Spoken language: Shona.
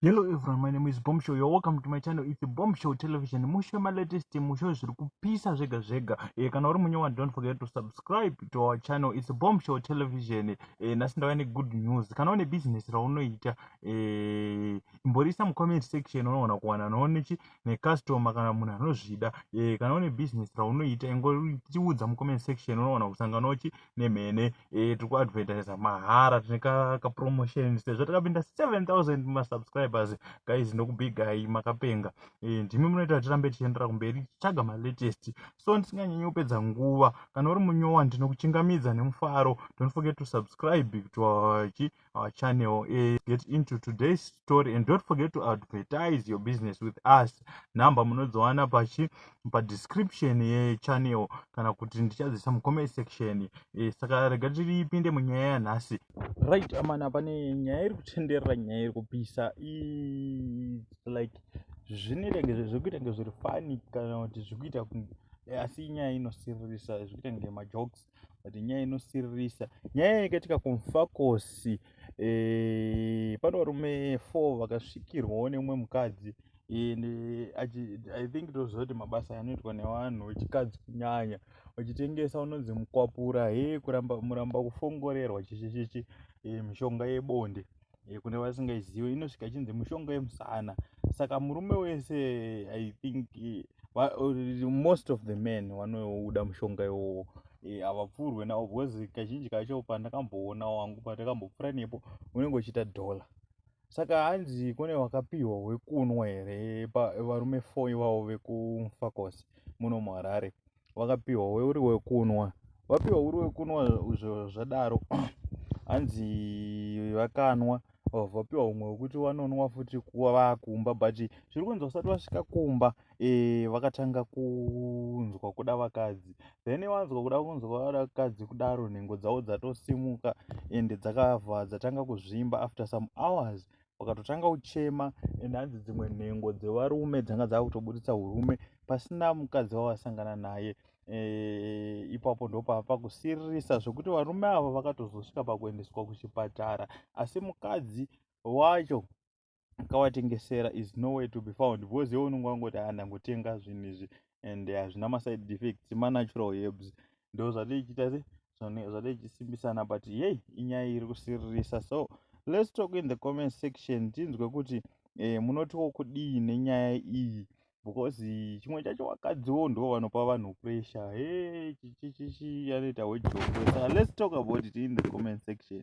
Hello everyone, my name is Bomb Show. You're welcome to my channel. It's a Bomb Show Television. Mushe ma latest mushe zviri kupisa zvega zvega. Eh kana uri munyewa don't forget to subscribe to our channel. It's a Bomb Show Television. Eh nasi ndava ne good news. Kana une business raunoita eh imborisa mu comment section unoona kuwana noone chi ne customer kana munhu anozvida. Eh kana une business raunoita ingoriudza mu comment section unoona kusangana uchi nemhene eh, tiri kuadvertisa mahara tine kapromotion sezvo takapinda 7000 masubscribers guys ndokubigai makapenga eh, ndimi munoita kuti tirambe tichiendera kumberi tichitsvaga malatest so ndisinganyanyi kupedza nguva kana uri munyowa ndinokuchingamidza nemufaro don't forget to subscribe to our our channel is get into today's story and don't forget to advertise your business with us number munozowana pachi padescription yechannel kana kuti ndichadziisa mucomment section e, saka rega tiripinde munyaya yanhasi right amana pane nyaya iri kutenderera nyaya iri kupisa like zvinoita ngezve zvekuita ngezviri fani kana kuti zvikuita asi inyaya inosiririsa zvikuita ngemajokes but nyaya inosiririsa nyaya yakaitika kumfakosi e, eh, pane varume four vakasvikirwawo neumwe mukadzi and eh, i think tozoti mabasa anoitwa nevanhu vechikadzi kunyanya vachitengesa unonzi mukwapura he kuramba muramba kufongorerwa chichichichi eh, mishonga yebonde eh, kune vasingaizive inosvika ichinzi mushonga yemusana saka murume wese i think eh, most of the men vanouda mushonga iwowo eh, havapfuurwe nawo because kazhinji kacho pandakamboona wangu pandakambopfuura nepo unenge uchiita dollar saka hanzi kune wakapiwa wekunwa here varume four ivavo vekufakosi muno muharare wakapiwa uri wekunwa wapiwa uri wekunwa izvo zvadaro hanzi vakanwa vapiwa umwe wekuti vanonwa futi kuva vakumba but zviri kunzi vasati vasvika kumba e, vakatanga kunzwa kuda vakadzi then vanzwa kuda kunzwa vada vakadzi kudaro nhengo dzavo dzatosimuka ende dzakavha dzatanga kuzvimba after some hours wakatotanga kuchema and hanzi dzimwe nhengo dzevarume dzanga dzakutoburitsa urume pasina mukadzi wavasangana naye eh, ipapo ndopava pakusiririsa zvekuti varume ava vakatozosvika pakuendeswa kuchipatara asi mukadzi wacho akawatengesera is no way to be found because iwe unonge wangoti handangotenga zvinhu izvi and hazvina maside effects manatural herbs ndo zvadei chiita se zvadei chisimbisana but yei inyaya iri kusiririsa so let's talk in the comment section tinzwe kuti eh, munotiwo kudii nenyaya iyi because chimwe chacho vakadziwo ndo vanopa vanhu pressure he chichichichi anoita hwejokesa let's talk about it in the comment section